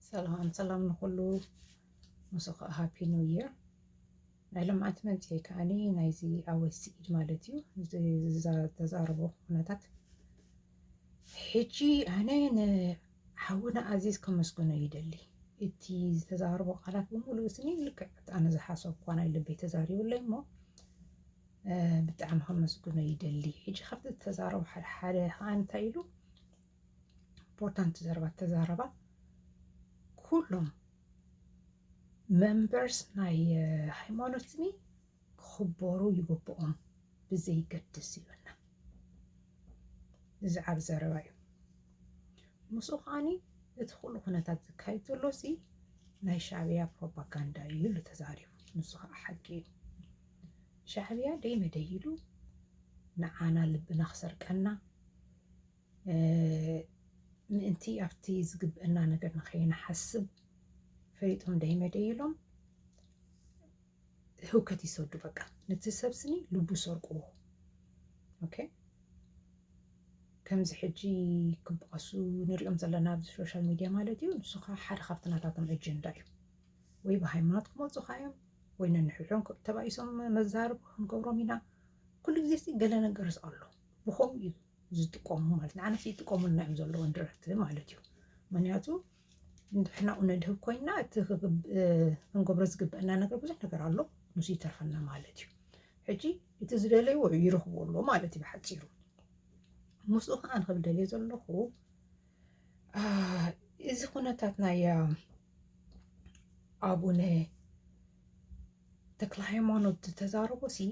ሰላም ሰላም ንኹሉ ምስ ኸ ሃፒ ኒው ይር ናይ ልምዓት መንፅኤ ከዓኒ ናይዚ ኣወይ ስዒድ ማለት እዩ ተዛረቦ ኩነታት ሕጂ ኣነ ንሓውና ኣዚዝ ከመስግኖ ይደሊ እቲ ዝተዛረቦ ቃላት ብምሉእ ስኒ ልክዕ ኣነ ዝሓሰብኳ ናይ ልበይ ተዛሪቡለይ እሞ ብጣዕሚ ከመስግኖ ይደሊ ሕጂ ካብቲ ዝተዛረቦ ሓደ ሓደ ከዓ እንታይ ኢሉ ኢምፖርታንት ዘረባ ተዛረባ ኩሎም መንበርስ ናይ ሃይማኖትኒ ክኽበሩ ይግብኦም ብዘይገድስ ይብልና እዚ ዓብ ዘረባ እዩ ምስኡ ከዓኒ እቲ ኩሉ ኩነታት ዝካየድ ዘሎ ሲ ናይ ሻዕብያ ፕሮፓጋንዳ እዩ ኢሉ ተዛሪቡ ንሱ ከዓ ሓቂ እዩ ሻዕብያ ደይ መደይ ኢሉ ንዓና ልብና ክሰርቀና ምእንቲ ኣብቲ ዝግብእና ነገር ንኸይንሓስብ ፈሊጦም ደይመደዩሎም ህውከት ይሰዱ በቃ ነቲ ሰብ ስኒ ልቡ ሰርቁዎ ኦኬ ከምዚ ሕጂ ክበኣሱ ንሪኦም ዘለና ኣብዚ ሶሻል ሚድያ ማለት እዩ ንሱ ከዓ ሓደ ካብቲ ናታቶም ኣጀንዳ እዩ ወይ ብሃይማኖት ክመፁኻ እዮም ወይ ነንሕድሖም ተባኢሶም መዛርብ ክንገብሮም ኢና ኩሉ ግዜ ሲ ገለ ነገርስ ኣሎ ብኸምኡ እዩ ዝጥቀሙ ማለት ንዓና ይጥቀሙልና እዮም ዘለዎም ድረርቲ ማለት እዩ ምክንያቱ ንድሕና ነድህብ ኮይና እቲ ክንገብሮ ዝግበአና ነገር ብዙሕ ነገር ኣሎ ንሱ ይተርፈና ማለት እዩ ሕጂ እቲ ዝደለይዎ ይረኽቦ ኣሎ ማለት እዩ ብሓፂሩ ምስኡ ከዓ ንክብ ደልየ ዘለኹ እዚ ኩነታት ናይ ኣቡነ ተክለ ሃይማኖት ዝተዛረቦ ሲ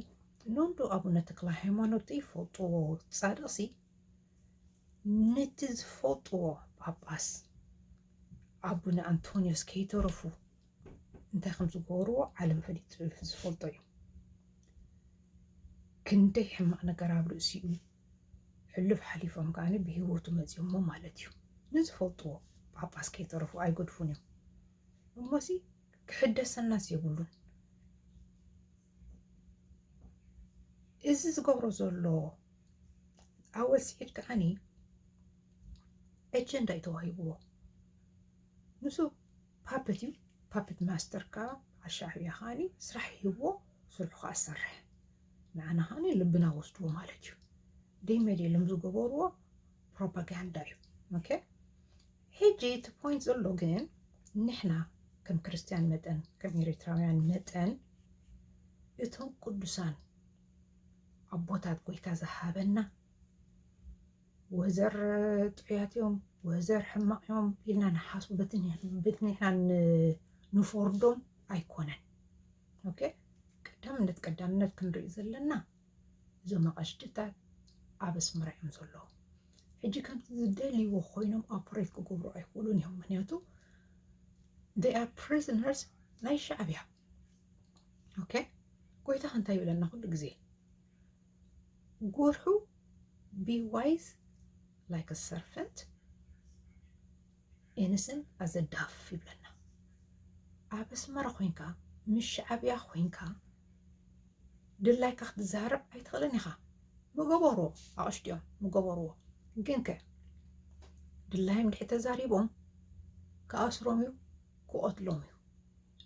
ኖንዶ ኣቡነ ተክለ ሃይማኖት ዘይፈልጥዎ ፃድቕ ሲ ነቲ ዝፈልጥዎ ጳጳስ ኣቡነ ኣንቶንዮስ ከይተረፉ እንታይ ከም ዝገበርዎ ዓለም ፈሊጡ ዝፈልጦ እዩ ክንደይ ሕማቕ ነገር ኣብ ርእሲኡ ሕሉፍ ሓሊፎም ከዓኒ ብሂወቱ መፂኦሞ ማለት እዩ ንዝፈልጥዎ ጳጳስ ከይተረፉ ኣይገድፉን እዮም እሞሲ ክሕደሰናስ የብሉን። እዚ ዝገብሮ ዘሎ ኣወል ስዒድ ከዓኒ ኤጀንዳ እዩ ተዋሂብዎ ንሱ ፓፕት እዩ ፓፕት ማስተር ከዓ ኣሻዕብያ ከዓኒ ስራሕ ሂብዎ ስርሑ ከዓ ዝሰርሕ ንዓና ከዓኒ ልብና ወስድዎ ማለት እዩ ደይ መድ የሎም ዝገበርዎ ፕሮፓጋንዳ እዩ ኦኬ ሕጂ እቲ ፖይንት ዘሎ ግን ንሕና ከም ክርስትያን መጠን ከም ኤሪትራውያን መጠን እቶም ቅዱሳን ኣቦታት ጎይታ ዝሃበና ወዘር ጥዑያት እዮም ወዘር ሕማቅ እዮም ኢልና ንሓስቡ በቲ ንሕና ንፎርዶም ኣይኮነን ኦኬ ቀዳምነት ቀዳምነት ክንርኢ ዘለና እዞም ኣቐሽድታት ኣብ ኣስመራ እዮም ዘለዉ ሕጂ ከምቲ ዝደልይዎ ኮይኖም ኦፕሬት ክገብሩ ኣይክእሉን እዮም ምክንያቱ they are prisoners ናይ ሻዕብያ ኦኬ ጎይታ ከንታይ ይብለና ኩሉ ግዜ ጎርሑ ቢ ዋይዝ ላይክ ሰርፈንት ኤንስን ኣዘ ዳፍ ይብለና ኣብ ኣስመራ ኮንካ ምስ ሻዕብያ ኮንካ ድላይካ ክትዛረብ ኣይትኽእልን ኢኻ ምገበርዎ ኣቕሽትዮም ምገበርዎ ግን ከ ድላይም ድሕሪ ተዛሪቦም ክኣስሮም እዩ ክቐትሎም እዩ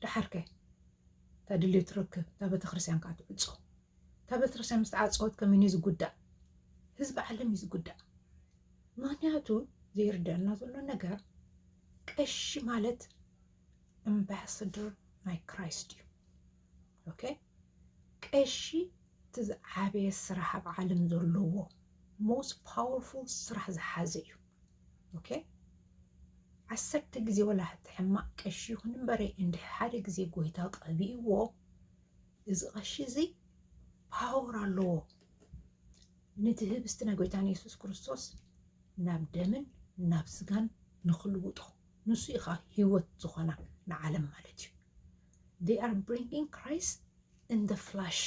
ድሓር ከ እታ ድልዮ ትረክብ እታ ቤተክርስትያን ከዓ ትዕፆ እታ ቤተክርስትያን ምስ ተዓፀወት ከመን እዩ ዝጉዳእ ህዝቢ ዓለም እዩ ዝጉዳእ ምክንያቱ ዘይርደኣና ዘሎ ነገር ቀሺ ማለት ኣምባሳደር ናይ ክራይስት እዩ ኦኬ ቀሺ እቲ ዝዓበየ ስራሕ ኣብ ዓለም ዘለዎ ሞስት ፓወርፉል ስራሕ ዝሓዘ እዩ ኦኬ ዓሰርተ ግዜ ወላ ሕማቅ ቀሺ ይኹን እምበረ እንድ ሓደ ግዜ ጎይታ ቀቢእዎ እዚ ቀሺ እዚ ፓወር ኣለዎ ነቲ ህብስቲ ናይ ጎይታና የሱስ ክርስቶስ ናብ ደምን ናብ ስጋን ንክልውጦ ንሱ ኢካ ሂወት ዝኮና ንዓለም ማለት እዩ they are bringing Christ in the flesh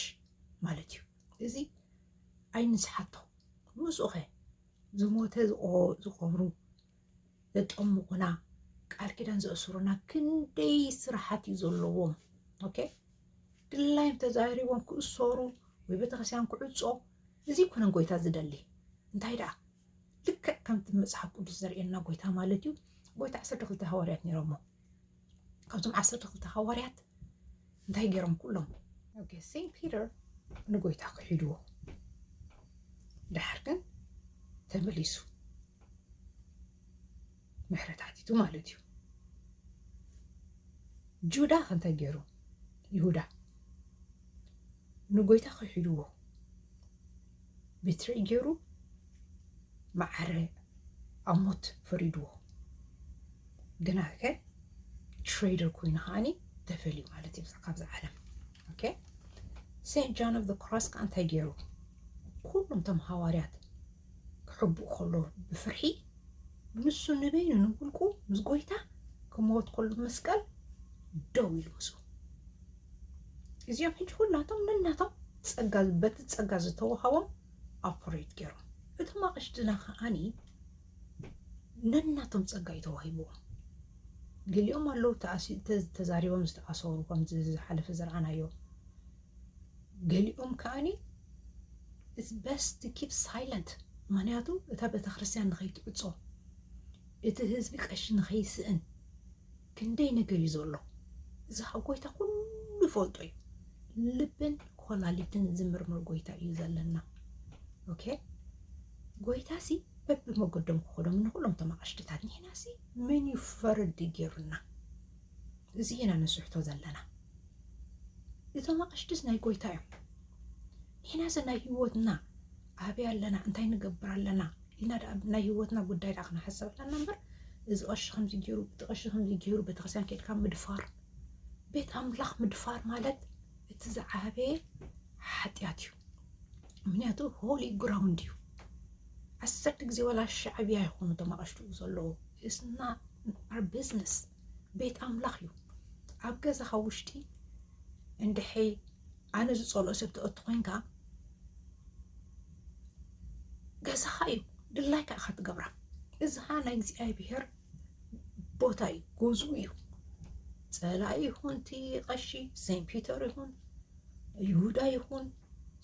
ማለት እዩ እዚ ኣይንስሓቶ ምስኡኸ ዝሞተ ዝቆብሩ ዘጠምቑና ቃል ኪዳን ዘእስሩና ክንደይ ስራሓት እዩ ዘለዎም። ኦኬ ድላይም ተዛሪቦም ክእሰሩ ወይ ቤተክርስትያን ክዕፆ እዚ ኮነን ጎይታ ዝደሊ እንታይ ደኣ ልክዕ ከምቲ መፅሓፍ ቅዱስ ዘርእየና ጎይታ ማለት እዩ ጎይታ ዓሰርተ ክልተ ሃዋርያት ነይሮሞ ካብቶም ዓሰርተ ክልተ ሃዋርያት እንታይ ገይሮም ኩሎም ኦኬሲ ፒተር ንጎይታ ክሒድዎ ድሓር ግን ተመሊሱ ምሕረት ሓቲቱ ማለት እዩ ጁዳ ከንታይ ገይሩ ይሁዳ ንጎይታ ክሒድዎ ብትሪ ገይሩ መዓረ ኣብ ሞት ፈሪድዎ ግና ከ ትሬደር ኮይኑ ከዓኒ ተፈልዩ ማለት እዩ ካብዚ ዓለም ኦኬ ሴንት ጃን ኦፍ ክሮስ ከዓ እንታይ ገይሩ ኩሎም ቶም ሃዋርያት ክሕብኡ ከሎ ብፍርሒ ንሱ ንበይኑ ንውልቁ ምስ ጎይታ ክመወት ከሎ መስቀል ደው ኢሉ ምስኡ እዚኦም ሕጂ ኩላቶም ነናቶም ጸጋ በቲ ጸጋ ዝተዋሃቦም ኣፖሬት ገይሮም እቶም ኣቕሽድና ከዓኒ ነናቶም ጸጋ እዩ ተዋሂብዎም ገሊኦም ኣለዉ ተዛሪቦም ዝተኣሰሩ ከምዚ ዝሓለፈ ዝረኣናዮ ገሊኦም ከዓኒ ኢትስ በስት ኪፕ ሳይለንት ምክንያቱ እታ ቤተክርስትያን ንኸይትዕፆ እቲ ህዝቢ ቀሺ ንኸይስእን ክንደይ ነገር እዩ ዘሎ እዚ ኸ ጎይታ ኩሉ ይፈልጦ እዩ ልብን ኮላሊትን ዝምርምር ጎይታ እዩ ዘለና ኦኬ ጎይታ ሲ በብመገዶም ክኾዶም ንኩሎም እቶም ኣቕሽትታት ንሕና ሲ መን እዩ ፈረዲ ገይሩና እዚ ኢና ንስሕቶ ዘለና እቶም ኣቕሽትስ ናይ ጎይታ እዮም ንሕና ሲ ናይ ህይወትና ኣበይ ኣለና እንታይ ንገብር ኣለና ኢልና ድኣ ናይ ሂወትና ጉዳይ ድኣ ክንሓስብ ኣለና እምበር እዚ ቐሺ ከምዚ ገይሩ እቲ ቐሺ ከምዚ ገይሩ ቤተክርስትያን ከድካ ምድፋር ቤት ኣምላኽ ምድፋር ማለት እቲ ዝዓበየ ሓጢኣት እዩ ምክንያቱ ሆሊ ግራውንድ እዩ ዓሰርተ ግዜ ወላ ሻዕብያ ይኾኑ እቶም ኣቐሽትኡ ዘለዉ እስና ኣር ቢዝነስ ቤት ኣምላኽ እዩ ኣብ ገዛኻ ውሽጢ እንድሐይ ኣነ ዝፀልኦ ሰብ ተእቲ ኮንካ ገዛኻ እዩ ድላይካ ኢኻ ትገብራ እዝኻ ናይ እግዚኣብሔር ቦታ እዩ ጎዙ እዩ ጸላ ይኹን እቲ ቀሺ ሴንት ፒተር ይኹን ይሁዳ ይኹን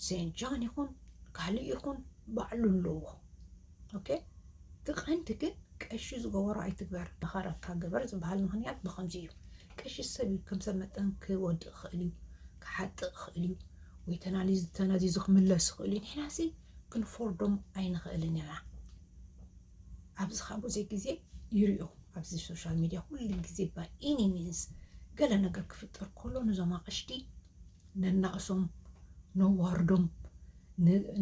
ሴንት ጃን ይኹን ካልእ ይኹን ባዕሉ ኣለዎ ኦኬ እቲ ቀንዲ ግን ቀሺ ዝገበሮ ኣይትግበር መኸረካ ግበር ዝበሃል ምክንያት ብከምዚ እዩ ቀሺ ሰብ እዩ ከም ሰብ መጠን ክወድእ ይኽእል እዩ ክሓጥእ ይኽእል እዩ ወይ ተናዚዙ ክምለስ ይኽእሉ እዩ ንሕና ሲ ክንፎርዶም ኣይንኽእልን ኢና ኣብዚ ካብ ብዙ ግዜ ይርዮ ኣብዚ ሶሻል ሚድያ ኩሉ ግዜ ባይ ኤኒ ሚንስ ገለ ነገር ክፍጠር ከሎ ነዞም ኣቕሽቲ ነናእሶም ነዋርዶም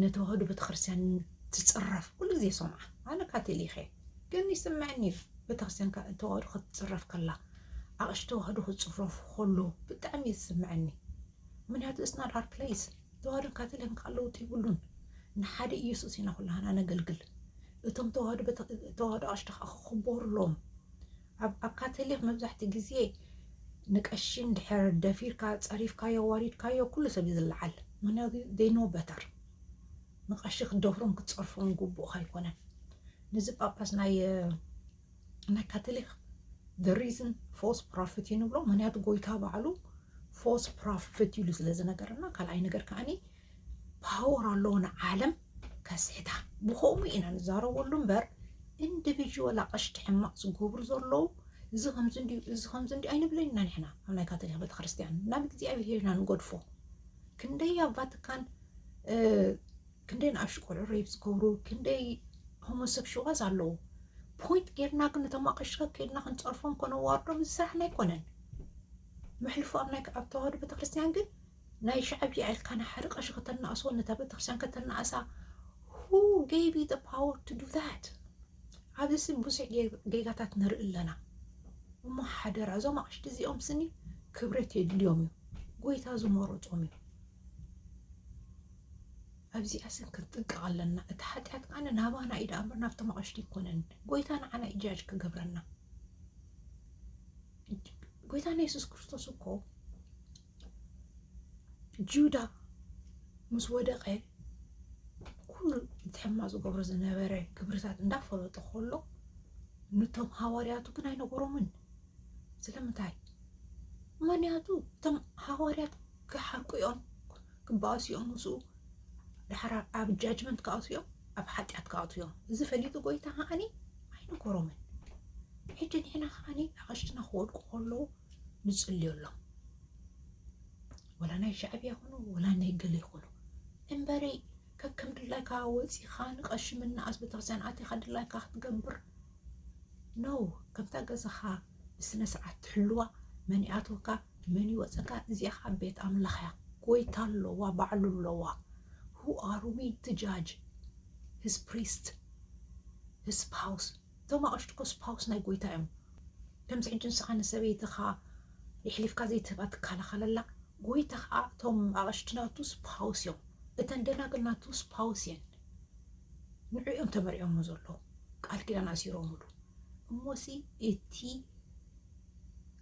ነተዋህዶ ቤተክርስትያን ትፅረፍ ኩሉ ግዜ ሰምዓ ኣነ ካቶሊክ እየ ግን ይስምዐኒ እዩ ቤተክርስትያን ተዋህዶ ክትፅረፍ ከላ ኣቕሽ ተዋህዶ ክፅረፉ ከሎ ብጣዕሚ እዩ ዝስምዐኒ ምክንያቱ ኢትስ ናት ኣወር ፕለይስ ተዋህዶን ካቶሊክን ከዓ ለውጢ የብሉን ንሓደ ኢየሱስ ኢና ኩላህና ነገልግል እቶም ተዋህዶ ተዋህዶ ኣቅሽቲ ከዓ ክኽበሩሎም ኣብ ካቶሊክ መብዛሕትኡ ግዜ ንቀሺ እንድሕር ደፊርካ ፀሪፍካዮ ዋሪድካዮ ኩሉ ሰብ እዩ ዝለዓል ምክንያቱ ዴይ ኖ በተር ንቀሺ ክትደፍሮም ክትፀርፎም ግቡእካ ኣይኮነን ነዚ ጳጳስ ናይ ናይ ካቶሊክ ሪዝን ፎስ ፕሮፊት እዩ ንብሎ ምክንያቱ ጎይታ ባዕሉ ፎስ ፕሮፊት ኢሉ ስለ ዝነገረና ካልኣይ ነገር ከዓኒ ፓወር ኣለዎ ንዓለም ከስሕታ ብከምኡ ኢና ንዛረበሉ እምበር ኢንዲቪዥዋል ኣቐሽቲ ሕማቕ ዝገብሩ ዘለዉ እዚ ከምዚ እንዲዩ እዚ ከምዚ እንዲዩ ኣይንብለን ኢና ንሕና ኣብ ናይ ካቶሊክ ቤተክርስትያን ናብ እግዚኣብሄር ኢና ንገድፎ ክንደይ ኣብ ቫቲካን ክንደይ ንኣሽቱ ቆልዑ ሬፕ ዝገብሩ ክንደይ ሆሞሰክሽዋልስ ኣለዉ። ፖይንት ጌርና ግን እቶም ኣቐሽካ ከድና ክንፀርፎም ከነዋርዶም እዚ ስራሕና ኣይኮነን። መሕልፎ ኣብ ናይ ኣብ ተዋህዶ ቤተክርስትያን ግን ናይ ሻዕብያ ኢልካ ናይ ሓደ ቀሺ ከተናእሶ ነታ ቤተክርስትያን ከተናእሳ ሁ ጌቢ ዩ ፓወር ቱ ዱ ዛት ኣብዚ ስም ብዙሕ ጌጋታት ንርኢ ኣለና። እሞ ሓደራ እዞም ኣቕሽቲ እዚኦም ስኒ ክብረት የድልዮም እዩ ጎይታ ዝመረፆም እዩ ኣብዚኣ ስን ክንጥንቀቕ ኣለና እቲ ሓጢኣት ከዓ ናባና እዩ ዳኣ እምበር ናብቶም ኣቕሽቲ ኣይኮነን ጎይታ ንዓና እዩ ጃጅ ክገብረና ጎይታና የሱስ ክርስቶስ እኮ ጁዳ ምስ ወደቐ ኩሉ እቲ ሕማ ዝገብሮ ዝነበረ ክብርታት እንዳፈለጦ ከሎ ንቶም ሃዋርያቱ ግን ኣይነገሮምን ስለምንታይ ምክንያቱ እቶም ሃዋርያት ክሓርቁ እዮም ክባኣሱ እዮም ምስኡ ዳሕራ ኣብ ጃጅመንት ክኣትዉ እዮም ኣብ ሓጢኣት ክኣትዉ እዮም እዚ ፈሊጡ ጎይታ ከዓኒ ኣይነኮሮምን ሕጂ ንሕና ከዓኒ ኣቐሽትና ክወድቁ ከለዉ ንፅልዮ ኣሎም ወላ ናይ ሻዕብያ ይኹኑ ወላ ናይ ገለ ይኹኑ እምበረይ ከከም ድላይካ ወፂኻ ንቐሺ ምናኣስ ቤተክርስትያን ኣቲኻ ድላይካ ክትገብር ነው ከምታ ገዛኻ ብስነስርዓት ትሕልዋ መን ይኣትወካ መን ይወፀካ እዚኣ ከዓ ቤት ኣምላኽ እያ ጎይታ ኣለዋ ባዕሉ ኣለዋ who are we to judge his priest his spouse እቶም ኣቕሽቲ እኮ ስፓውስ ናይ ጎይታ እዮም ከምዚ ሕጂ ንስኻ ንሰበይትኻ የሕሊፍካ ዘይትህባ ትከላኸለላ ጎይታ ከዓ እቶም ኣቕሽቲ ናቱ ስፓውስ እዮም እተን ደናግል ናቱ ስፓውስ እየን ንዕኦም ተመሪዖሞ ዘለዉ ቃል ኪዳን ኣሲሮምሉ እሞሲ እቲ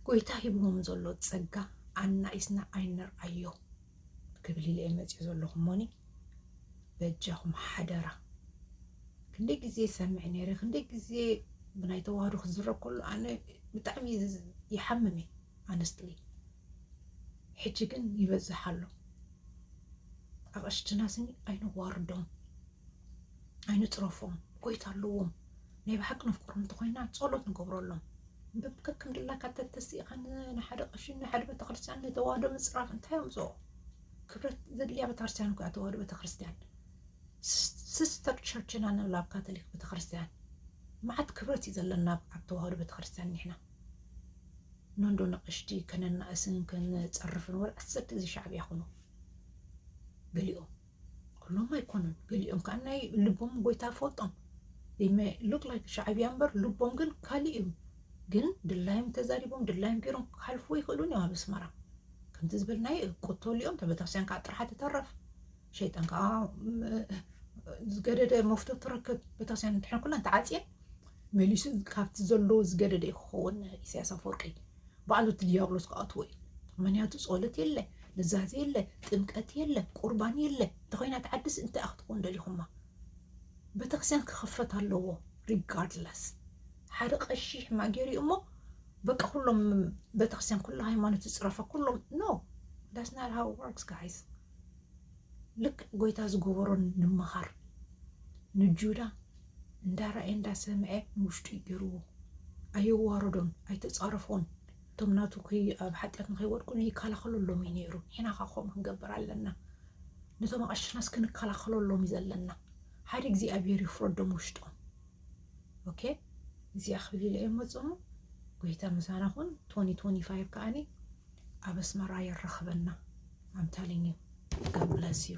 ጎይታ ሂብዎም ዘሎ ጸጋ ኣናኢስና ኣይንርኣዮ ክብል ኢለ መጽዮ ዘለኹ እሞኒ በጃኹም ሓደራ ክንደይ ግዜ ሰምዕ ነይረ ክንደይ ግዜ ብናይ ተዋህዶ ክዝረብ ከሎ ኣነ ብጣዕሚ ይሓምም እዩ ኣነስትሊ ሕጂ ግን ይበዝሕ ኣሎ። ኣቕሽትና ስኒ ኣይነዋርዶም፣ ኣይንፅረፎም፣ ጎይታ ኣለዎም። ናይ ብሓቂ ነፍቅሮም እንተኮይና ጸሎት ንገብረሎም ከከም ድላካ ተተሲእኻ ንሓደ ቀሺ ንሓደ ቤተክርስትያን ንተዋህዶ ምፅራፍ እንታይ ኣምፅኦ? ክብረት ዘድልያ ቤተክርስትያን እኮ ተዋህዶ ቤተክርስትያን ሲስተር ቸርችና ንብላ ኣብ ካቶሊክ ቤተክርስትያን መዓት ክብረት እዩ ዘለና ኣብ ተዋህዶ ቤተክርስትያን ንሕና ነንዶ ንቕሽቲ ከነናእስን ከነጸርፍን ወላ ኣሰኪ እዚ ሻዕብያ ኩኑ ገሊኦም ኩሎም ኣይኮኑን ገሊኦም ከዓ ናይ ልቦም ጎይታ ፈልጦም ሉክ ላይክ ሻዕብያ እምበር ልቦም ግን ካልእ እዩ ግን ድላዮም ተዛሪቦም ድላዮም ገይሮም ክሓልፉ ይኽእሉን እዮም ኣብ ኣስመራ ከምቲ ዝበልናዮ ቅተልኦም ተበታሲያን ከዓ ጥራሕ ትተረፍ ሸይጣን ከዓ ዝገደደ መፍቶ ትረክብ ቤተክርስቲያን እንድሕር ኩለን ተዓፅየን መሊሱ ካብቲ ዘሎ ዝገደደ እዩ ክኸውን ኢሳያስ ኣፈወርቂ ባዕሉ እቲ ዲያብሎስ ክኣትዎ እዩ ምክንያቱ ፀሎት የለ ንዛዜ የለ ጥምቀት የለ ቁርባን የለ እንተኮይና ተዓድስ እንታይ ክትኮን ደሊኹማ ቤተክርስቲያን ክኽፈት ኣለዎ ሪጋርድለስ ሓደ ቀሺ ማጌሪ እሞ በቃ ኩሎም ቤተክርስቲያን ኩሉ ሃይማኖት ዝፅረፈ ኩሎም ኖ ዳስ ናት ሃው ወርክስ ጋይስ ልክዕ ጎይታ ዝገበሮ ንምኻር ንጁዳ እንዳረኣየ እንዳሰምዐ ንውሽጡ እዩ ገይርዎ ኣየዋረዶን ኣይተፃረፎን እቶም ናቱ ኣብ ሓጢኣት ንከይወድቁ ይከላኸለሎም እዩ ነይሩ ንሕና ከዓ ከምኡ ክንገብር ኣለና ነቶም ኣቐሽናስ ክንከላኸለሎም እዩ ዘለና ሓደ እግዚኣብሔር ይፍረዶም ውሽጦም ኦኬ እዚኣ ክብል ኢለ እየ መፅሙ ጎይታ ምሳና ኹን ቶኒ ቶኒ ፋይቭ ከዓኒ ኣብ ኣስመራ የራኽበና ኣም ተሊንግ ዩ ጋድ ብለስ ዩ።